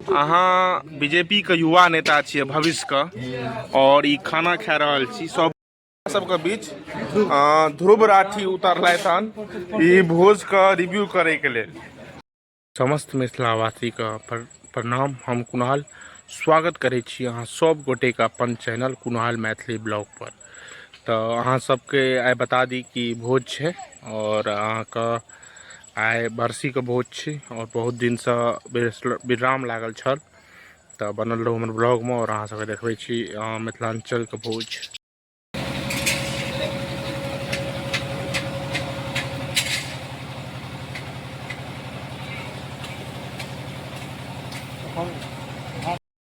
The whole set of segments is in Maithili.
अहाँ बीजेपी के युवा नेता छियै भविष्य के और ई खाना खा रहल छी सब सबके बीच ध्रुव राठी उतरलथि हन ई भोज के रिव्यू करे के लेल समस्त मिथिलावासी के प्रणाम हम कुणाल स्वागत करै छी अहाँ सब गोटे के अपन चैनल कुणाल मैथिली ब्लॉग पर तऽ अहाँ सबके आइ बता दी कि भोज छै आओर अहाँके आइ बरसीके भोज छी आओर बहुत दिनसँ विराम लागल छल तऽ बनल रहू हमर ब्लॉगमे आओर अहाँ सबके देखबै छी मिथिलाञ्चलके भोज हम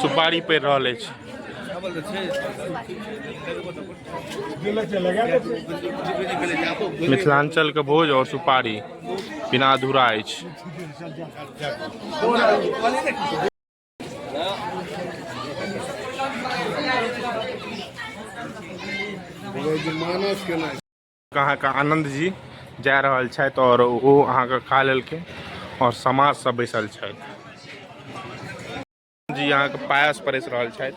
सुपारी पड़ि रहल अछि मिथिलाञ्चलके भोज आओर सुपारी बिना अधूरा अछि मानस केना अहाँके आनन्द जी जा रहल छथि आओर ओ अहाँके खा लेलखिन आओर समाजसँ बैसल छथि जी अहाँके पायस परसि रहल छथि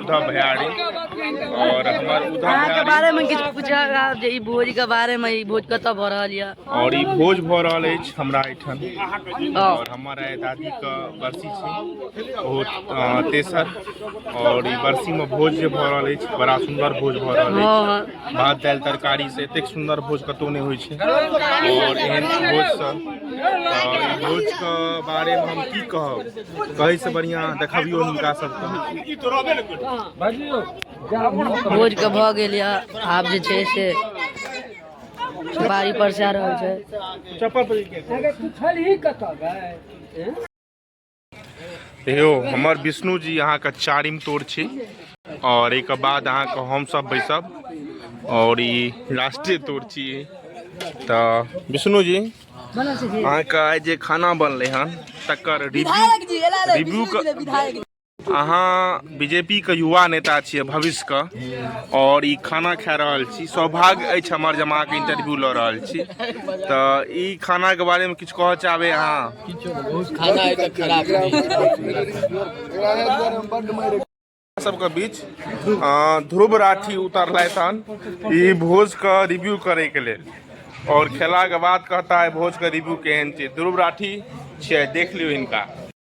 उद्धव भयारी और हमार उद्धव अहाँ के भयारी बारे में किछु पूछल आब जे ई भोज के बारे में ई भोज कतऽ भऽ रहल यऽ और ई भोज भऽ रहल अछि हमरा एहिठाम हँ। और हमर आइ दादी के बरसी छै बहुत अ, तेसर और ई बरसी में भोज जे भऽ रहल अछि बड़ा सुंदर भोज भऽ रहल अछि हँ भात दालि तरकारी से एतेक सुन्दर भोज कतौ नहि होइ छै आओर एहन भोज सब तऽ भोज के बारे मे हम की कहब कहै से बढ़िया देखबियो हुनका सबके भोज के भऽ गेल या आब जे छै से बारी पर से आ रहल छै चप्पल पर यौ हमर विष्णु जी अहाँके चारिम तोड़ छी और एक बाद अहाँके हम सब बैसब और ई राष्ट्रीय तोड़ छी तो विष्णु जी अहाँके आइ जे खाना बनलै हन तकर रिव्यू रिव्यू के अहाँ बीजेपी के युवा नेता छियै भविष्य के और ई खाना खा रहल छी सौभाग्य अछि हमर जमा के इंटरव्यू लऽ रहल छी तऽ ई खाना के बारे में कह चाहबे अहाँ खाना है तऽ खराब सबके बीच ध्रुव राठी उतरलथि हन ई भोजके रिव्यू करैके लेल और खेला के बाद कहता है भोज के रिव्यू केहन छै ध्रुव राठी छियै देख लियौ इनका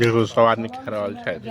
देखू सब आदमी खा रहल छथि